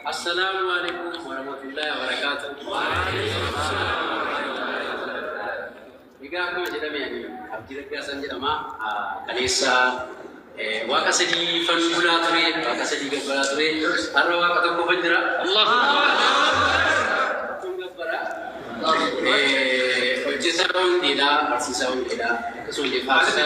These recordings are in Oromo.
Assalaamu alaikum warahmatullahi wabarakatuh. Egaa akkuma jedhame ani Abdii Raggaasaan jedhama. Kaleessa waaqa sadiifan bulaa ture, waaqa sadii gabbaraa ture. Har'a waaqa tokkofan jira. Tokkon gabbara. Hojjetaa wangeelaa, barsiisaa wangeelaa, akkasumallee faarsaa.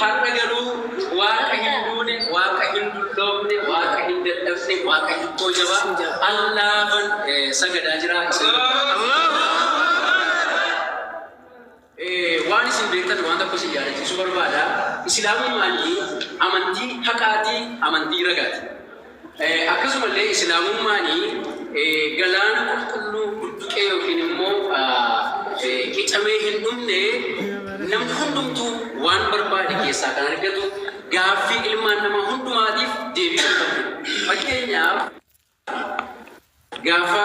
Har'a garuu Waaqa hin duune, Waaqa hin dulloomne, Waaqa hin dadhabne, Waaqa hikkoo jabaa, Allaafan sagadaa jira. Isin waan isin beektan waan tokko isin yaadachiisuu barbaada. Islaamummaani amantii haqaati, amantii ragaati. Akkasumallee Islaamummaan galaana qulqulluu budduqee ykn immoo qicamee hin dhumne, namni hundumtuu waan barbaade keessaa kan argatu, gaaffii ilmaan namaa hundumaatiif deebii kan qabdudha. Fakkeenyaaf, gaafa.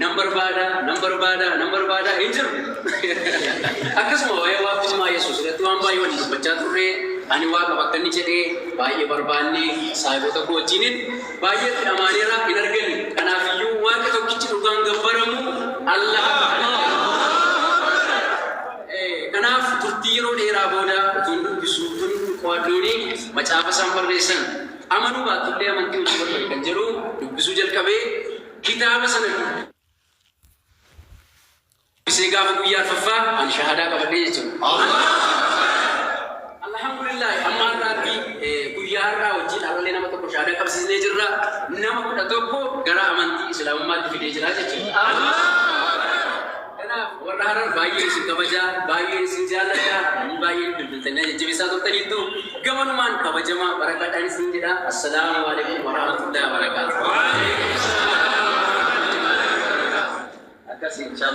Nan barbaada, nan barbaada, nan barbaada hin jiru. Akkasuma waa'ee waaqummaa Yesuus irratti waan baay'ee waliin dubbachaa turre. Ani Waaqa bakka inni jedhe baay'ee barbaanne saayibota koo wajjinin baay'ee itti dhamaaneera hin arganne. Kanaaf iyyuu Waaqi tokkichi dhugaan gabbaramu Allah Akbar. Eh, Kanaaf turtii yeroo dheeraa booda utuun dubbisu utuun qo'adhuuni macaafa isaan barreessan amanuu baattullee amantii hojii barbaade kan jedhu dubbisuu jalqabee Kitaaba sana dubbisee gaafa guyyaa arfaffaa ani shahadaa qabadhee jechuudha. Alhamdulillah amma har'aatti eh, guyyaa har'aa wajjin har'allee nama tokko shahadaa qabsiisnee jirra. Nama kudha tokko gara amantii Islaamummaatti fidee jira jechuudha. Kanaaf warra Harar baay'ee isin kabaja, baay'ee isin jaalladha, namni baay'een bilbiltanii na jajjabeessaa turtaniittu. Gamanumaan kabajamaa barakaadhaan isiniin jedha. Assalaamu Aleeykum Warahmatullaahi Wabarakaatuh. Akkasi inshaallaa.